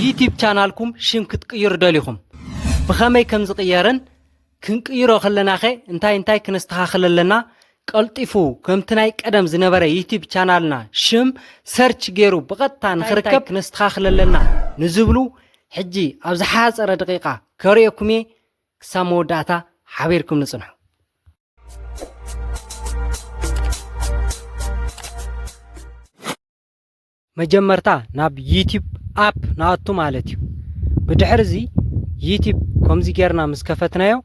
ዩቲብ ቻናልኩም ሽም ክትቅይሩ ደሊኹም ብኸመይ ከም ዝቕየርን ክንቅይሮ ከለናኸ እንታይ እንታይ ክነስተኻኽል ኣለና ቀልጢፉ ከምቲ ናይ ቀደም ዝነበረ ዩቲብ ቻናልና ሽም ሰርች ገይሩ ብቐጥታ ንኽርከብ ክነስተኻኽል ኣለና ንዝብሉ ሕጂ ኣብ ዝሓፀረ ደቂቓ ከርእየኩም እየ ክሳብ መወዳእታ ሓቢርኩም ንፅንሑ መጀመርታ ናብ ዩቲብ ኣፕ ንኣቱ ማለት እዩ ብድሕር እዚ ዩቲብ ከምዚ ጌርና ምስ ከፈትናዮ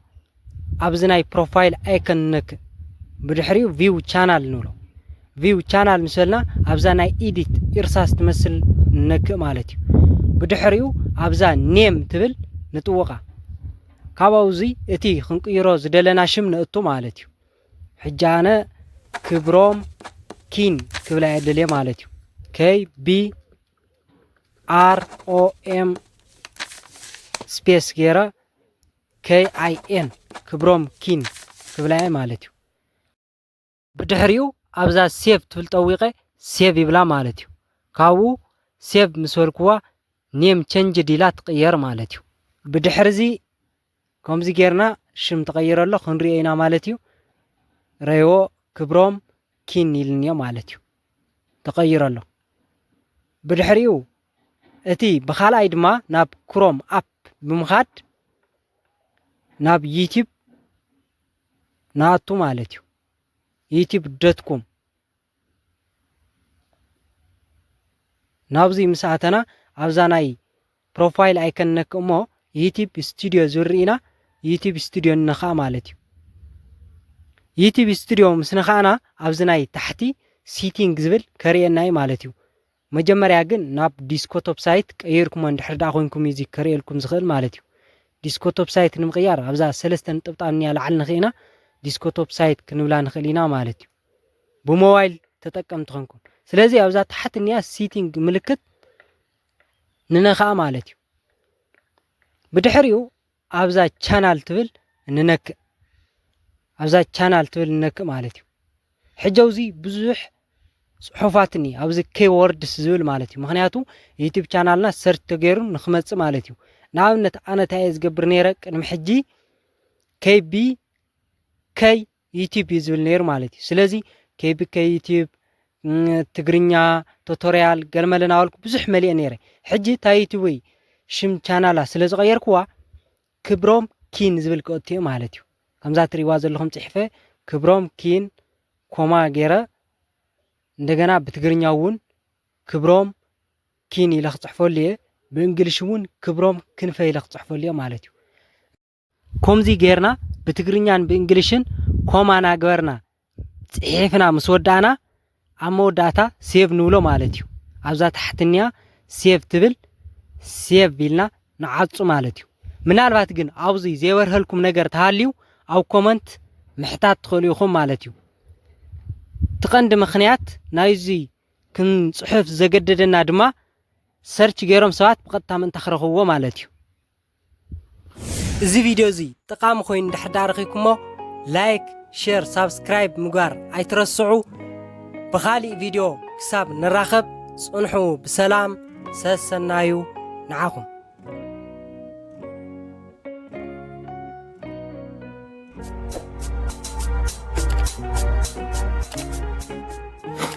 ኣብዚ ናይ ፕሮፋይል ኣይከን ንነክእ ብድሕሪኡ ቪው ቻናል ንብሎ ቪው ቻናል ምስ በልና ኣብዛ ናይ ኢዲት ኢርሳስ ትመስል ንነክእ ማለት እዩ ብድሕሪኡ ኣብዛ ኔም ትብል ንጥውቓ ካብኡ እዚ እቲ ክንቅይሮ ዝደለና ሽም ነእቱ ማለት እዩ ሕጂ ኣነ ክብሮም ኪን ክብላ የደልየ ማለት እዩ ከይ ቢ ኣር ኦ ኤም ስፔስ ገይረ ከይ ኣይ ኤን ክብሮም ኪን ክብላየ ማለት እዩ ብድሕሪኡ ኣብዛ ሴቭ ትብል ጠዊቀ ሴቭ ይብላ ማለት እዩ ካብኡ ሴቭ ምስ በልክዋ ኔም ቸንጅ ዲላ ትቅየር ማለት እዩ ብድሕሪ እዚ ከምዚ ጌርና ሽም ተቐይሩ ኣሎ ክንሪኦ ኢና ማለት እዩ ረይዎ ክብሮም ኪን ኢልንዮ ማለት እዩ ተቐይሩ ኣሎ ብድሕሪኡ እቲ ብካልኣይ ድማ ናብ ክሮም ኣፕ ብምኻድ ናብ ዩቲብ ንኣቱ ማለት እዩ ዩቲብ ዶትኮም ናብዙይ ምስ ኣተና ኣብዛ ናይ ፕሮፋይል ኣይከን ነክ እሞ ዩቲብ ስቱድዮ ዝብል ርኢና ዩቲብ ስቱድዮ ንነካእ ማለት እዩ ዩቲብ ስቱድዮ ምስ ነካእና ኣብዚ ናይ ታሕቲ ሲቲንግ ዝብል ከርእየና እዩ ማለት እዩ መጀመርያ ግን ናብ ዲስኮቶፕ ሳይት ቀይርኩሞ እንድሕር ድኣ ኮይንኩም እዩ እዚ ከርእየልኩም ዝኽእል ማለት እዩ። ዲስኮቶፕ ሳይት ንምቕያር ኣብዛ ሰለስተ ንጥብጣብ እንያ ላዕሊ ንኺእና ዲስኮቶፕ ሳይት ክንብላ ንኽእል ኢና ማለት እዩ። ብሞባይል ተጠቀምቲ ኮንኩም ስለዚ ኣብዛ ታሕቲ እንያ ሲቲንግ ምልክት ንነኽኣ ማለት እዩ። ብድሕሪኡ ኣብዛ ቻናል ትብል ንነክእ ኣብዛ ቻናል ትብል ንነክእ ማለት እዩ ሕጂ ኣብዚ ብዙሕ ጽሑፋት እኒ ኣብዚ ኬ ወርድስ ዝብል ማለት እዩ ምክንያቱ ዩቲብ ቻናልና ሰርች ተገይሩ ንክመጽእ ማለት እዩ ንኣብነት ኣነ እንታይ እየ ዝገብር ነይረ ቅድሚ ሕጂ ከይቢ ከይ ዩቲብ እዩ ዝብል ነይሩ ማለት እዩ ስለዚ ከይብከ ዩቲብ ትግርኛ ቶቶርያል ገለመለ ናበልኩ ብዙሕ መሊአ ነይረ ሕጂ እታ ዩቲብይ ሽም ቻናላ ስለ ዝቐየርክዋ ክብሮም ኪን ዝብል ክኦትዮ ማለት እዩ ከምዛ ትሪዋ ዘለኹም ፅሒፈ ክብሮም ኪን ኮማ ገይረ እንደገና ብትግርኛ እውን ክብሮም ኪን ኢለ ክፅሕፈሉ እየ ብእንግሊሽ እውን ክብሮም ክንፈ ኢለ ክፅሕፈሉ እየ ማለት እዩ ኮምዚ ጌርና ብትግርኛን ብእንግሊሽን ኮማ ናግበርና ጽሒፍና ምስ ወዳእና ኣብ መወዳእታ ሴቭ ንብሎ ማለት እዩ ኣብዛ ታሕትኒያ ሴቭ ትብል ሴቭ ኢልና ንዓጹ ማለት እዩ ምናልባት ግን ኣብዚ ዘይበርሀልኩም ነገር ተሃልዩ ኣብ ኮመንት ምሕታት ትኽእሉ ኢኹም ማለት እዩ እቲ ቀንዲ ምክንያት ናይዚ ክንጽሑፍ ዘገደደና ድማ ሰርች ገይሮም ሰባት ብቐጥታ ምእንታ ክረኽብዎ ማለት እዩ እዚ ቪድዮ እዚ ጠቓሚ ኮይኑ እንድሕር ዳኣ ረኺብኩሞ ላይክ ሼር ሳብስክራይብ ምግባር ኣይትረስዑ ብኻሊእ ቪድዮ ክሳብ ንራኸብ ጽንሑ ብሰላም ሰሰናዩ ንዓኹም